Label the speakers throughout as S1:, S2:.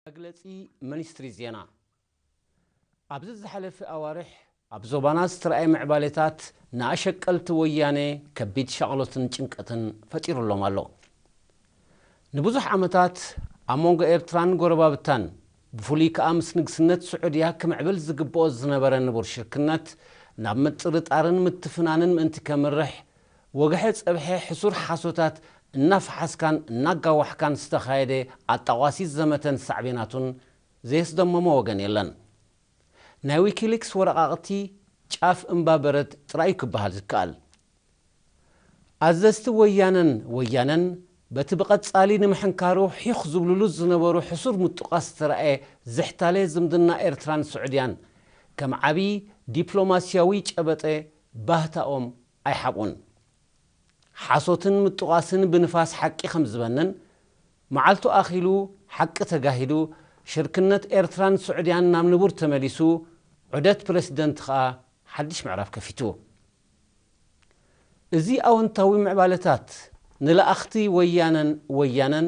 S1: መግለጺ ሚኒስትሪ ዜና ኣብዚ ዝሓለፈ ኣዋርሕ ኣብ ዞባና ዝተራእየ ምዕባሌታት ንኣሸቀልቲ ወያኔ ከቢድ ሻቕሎትን ጭንቀትን ፈጢሩሎም ኣሎ። ንብዙሕ ዓመታት ኣብ መንጎ ኤርትራን ጎረባብታን ብፍሉይ ከኣ ምስ ንግስነት ስዑድያ ክምዕብል ዝግብኦ ዝነበረ ንቡር ሽርክነት ናብ ምጥርጣርን ምትፍናንን ምእንቲ ከምርሕ ወግሐ ጸብሐ ሕሱር ሓሶታት እናፈሓስካን እናጋዋሕካን ዝተኻየደ ኣጣቋሲት ዘመተን ሳዕቤናቱን ዘየስደመሞ ወገን የለን። ናይ ዊኪሊክስ ወረቓቕቲ ጫፍ እምባ በረድ ጥራይ'ዩ ክበሃል ዝከኣል። ኣዘዝቲ ወያነን ወያነን በቲ ብቐጻሊ ንምሕንካሩ ሒኽ ዝብሉሉ ዝነበሩ ሕሱር ምጡቃስ ዝተራእየ ዝሕታለ ዝምድና ኤርትራን ስዑድያን ከም ዓቢ ዲፕሎማሲያዊ ጨበጠ ባህታኦም ኣይሓብኡን። ሓሶትን ምጥቛስን ብንፋስ ሓቂ ከም ዝበንን፣ መዓልቱ ኣኺሉ፣ ሓቂ ተጋሂዱ፣ ሽርክነት ኤርትራን ስዑድያን ናብ ንቡር ተመሊሱ፣ ዑደት ፕረሲደንት ከኣ ሓድሽ ምዕራፍ ከፊቱ። እዚ ኣወንታዊ ምዕባለታት፣ ንለኣኽቲ ወያነን ወያነን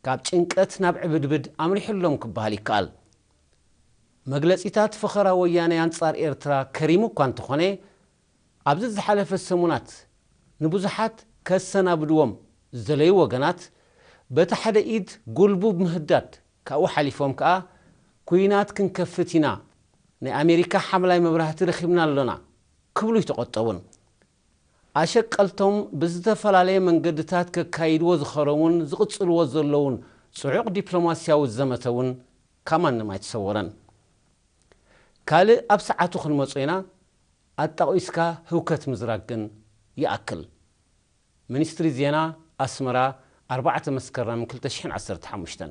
S1: ካብ ጭንቀት ናብ ዕብድብድ ኣምሪሑሎም ክበሃል ይከኣል። መግለጺታት ፈኸራ ወያኔ ኣንጻር ኤርትራ ከሪሙ እኳ እንተኾነ፣ ኣብዚ ዝሓለፈ ሰሙናት ንብዙሓት ከሰናብድዎም ዝደለዩ ወገናት በቲ ሓደ ኢድ ጉልቡብ ምህዳድ ካብኡ ሓሊፎም ከኣ ኩናት ክንከፍት ኢና፣ ናይ ኣሜሪካ ሓምላይ መብራህቲ ረኺብና ኣሎና ክብሉ ኣይተቖጠቡን። ኣሸቀልቶም ብዝተፈላለየ መንገድታት ከካይድዎ ዝኸረሙን ዝቕጽልዎ ዘለዉን ጽዑቕ ዲፕሎማስያዊ ዘመተ እውን ካብ ማንም ኣይተሰወረን። ካልእ ኣብ ሰዓቱ ክንመጾ ኢና። ኣጣቒስካ ህውከት ምዝራግ ግን ይኣክል። ሚኒስትሪ ዜና ኣስመራ ኣርባዕተ መስከረም ክልተ ሽሕን ዓሰርተ ሓሙሽተን።